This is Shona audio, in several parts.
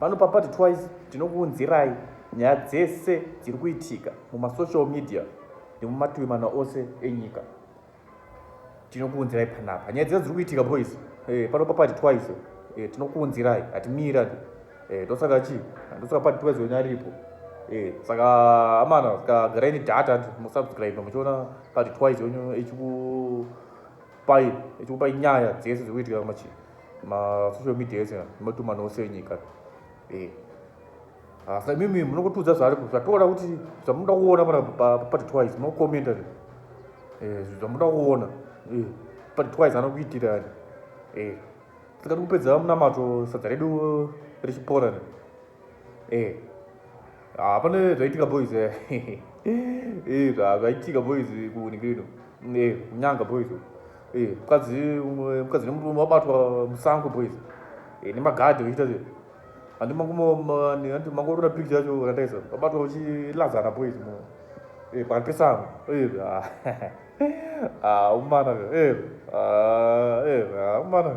Pano paPart Twice tinokuunzirai nyaya dzese dziri kuitika mumasocial media nemumativi mana ose enyika. Tinokuunzirai panapa nyaya dzese dziri kuitika boys. Eh, pano paPart Twice eh, tinokuunzirai hatimira eh, ndosaka chii ndosaka Part Twice wenyu aripo. Eh, saka amana saka garai nedata musubscribe muchiona Part Twice wenyu echiku Pai ichikupa nyaya dzese dzekuitika machi ma social media ese nematuma nose enyika eh hasa imimi munongotudza zvaari zvatoda kuti zvamunoda kuona mara pati twice munokomenta eh zvamunoda kuona eh pati twice anokuitirani eh saka tikupedza munamato sadza redu richipora ne Eh. Ah, pane zvaitika boys eh. Eh, zva- zvaitika boys kuunikirino. Eh, kunyanga boys. Eh, mukadzi umwe- mukadzi nemurume wabatwa musango boys. Eh, nemagadhi vachiita zve. Handi mangumo ma- ni- handi mangorora picture yacho randaisa. Wabatwa uchilazana boys mu. Eh, pakati pesango. Eh, ah. Ah, umana. Eh, ah, eh, ah, umana.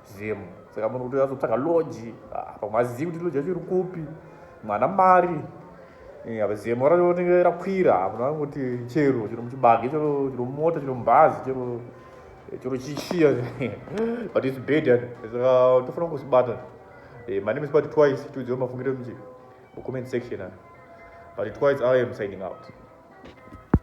Zim saka munhu kuti azotsvaga lodge ah, pamwe azivi kuti lodge yacho iri kupi mwana mari apa zemo raonenge rakwira ah, munhu anoti chero chero muchibage chero chero mumota chero mubhazi chero eh, chero chishiya but its bad yani saka tofanira kuzibata eh, my name is but twice tiudziwa mafungiro muchi comment section but twice i am signing out